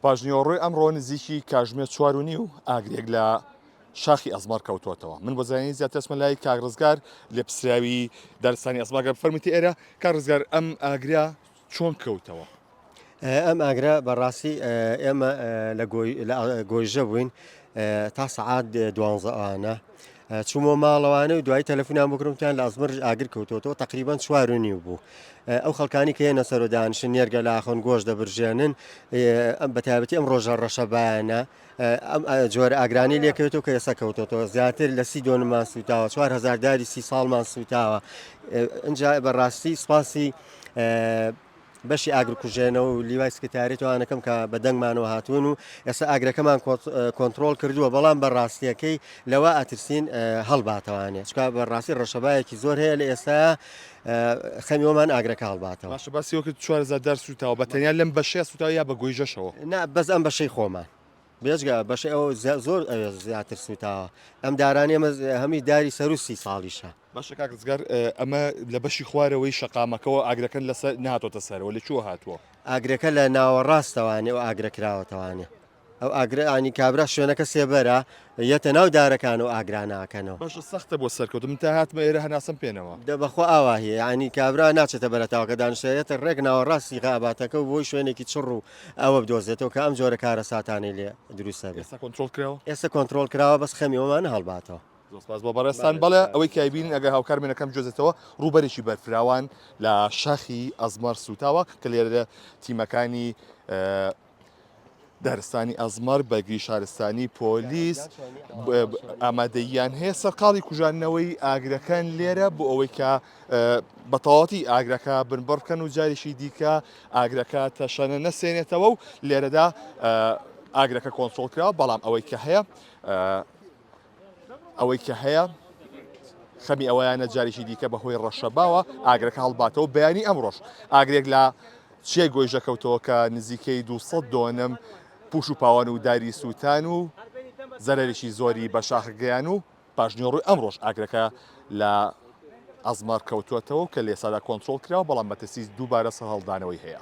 پاشنیوەڕۆی ئەمڕۆ نزیکی کاژمێر چوار و نیو ئاگرێک لە شاخی ئەزمار کەوتوتەوە من بۆ زانانی زیاترسمە لای کاک ڕزگار لە پسراوی دارستانی ئەزماگە فەرمتی ئێرە کار ڕزگار ئەم ئاگرا چۆن کەوتەوە ئەم ئاگرا بەڕاستی ئێمە لە گۆیژە بووین تا سعات دوانزەوانە چوومەوە ماڵەوانێ و دوای تەلەفونیان بۆ کردم وتیان لە ئەزمەرش ئاگر کەوتووەتەوە تقریبا چوار و نیو بوو ئەو خەڵکانی کە هێنە سەر و دانیشن نێرگە لاخۆن گۆش دەبرژێنن ئەم بە تایبەتی ئەم ڕۆژە ڕەشەبایانە ئەم جۆرە ئاگرانی لێکەوێتەوە کە ئێستا کەوتەوە زیاتر لە سی دۆنمان سوتاوە چوار هزار داری سی ساڵمان سوتاوە ئەجا بەڕاستی سپاسی بەشی ئاگر کوژێنەوە و لیوای سکرتاری توانەکەم کە بە دەنگمانەوە هاتوون و ئێستا ئاگرەکەمان کۆنتترۆل کردووە بەڵام بە ڕاستیەکەی لەوە ئەترسین هەڵباتەوانێ چکا بە ڕاستی ڕەشەبایەکی زۆر هەیە لە ئێستا خەمیۆمان ئاگرەکە هەڵباتەوە باشە باسیەوەکە چوارزار دار سوتاوە بە تەنیا لەم بەشەیە سوتاوە یا بە گۆیژەشەوە نا بەس ئەم بەشەی خۆمان بێجگە بەشەی ئەو زۆر ئەوێ زیاتر سوتاوە ئەم دارانی ئەمە هەمی داری سەر و سی ساڵیشە باشە کاک ڕزگار ئەمە لە بەشی خوارەوەی شەقامەکەەوە ئاگرەکەن لەسەر ناتۆتە سەرەوە لە چوە هاتووە ئاگرەکە لە ناوەڕاستەوانێ و ئاگرە کراوەتەوانێ ئەو ئاگرانی کابرا شوێنەکە سێبەرە یەتە ناو دارەکان و ئاگراناکەنەوە باشە سەختە بۆ سەرکەوت من تا هاتمە ئێرە هەناسم پێێنەوە دە بەخۆ ئاواهەیە ینی کابرا ناچێتە بەرەتاوەکە دانشێتە ڕێک ناوەڕاستی غاباتەکە و بۆی شوێنێکی چڕ و ئەوە بدۆزێتەوە کە ئەم جۆرە کارەساتانەی لێ دروست نەبێت ئێستا کۆنترۆڵ کراوە ئێستا کۆنتترۆل کراوە بەس خەمی ئەومان هەڵباتەوە زۆرسپاس بۆ بەڕێستان بەڵێ ئەوەی کایبین ئەگە هاوکار منەکەم جۆزێتەوە ڕووبەرێکی بەرفراوان لە شاخی ئەزمەر سوتاوە کە لێرە تیمەکانی دارستانی ئەزمەر بەگری شارستانی پۆلیس ئامادەیان هەیە سەرقاڵی کوژانەوەی ئاگرەکان لێرە بۆ ئەوەی کە بەتەواوەتی ئاگرەکە بنبڕ بکەن و جاریشی دیکە ئاگرەکە تەشەنە نەسێنێتەوە و لێرەدا ئاگرەکە کۆنسۆڵ کرا بەڵام ئەوەی کە هەیە ئەوەی کە هەیە خەمی ئەوەیانە جاریشی دیکە بەهۆی ڕەشە باوە ئاگرەکە هەڵباتەوە بەیانی ئەمڕۆژ ئاگرێک لە چێ گۆیژە کەوتەوە کە نزیکەی 200 دۆنم پوش و پاوان و داری سووتان و زەرریی زۆری بە شاخگەیان و پاشنیوەڕۆی ئەمڕۆش ئاگرەکە لە ئەزمار کەوتووەتەوە و کە لێسادا کۆنترۆڵ کراوە، بەڵام مەترسی دووبارە سەرهەڵدانەوەی هەیە.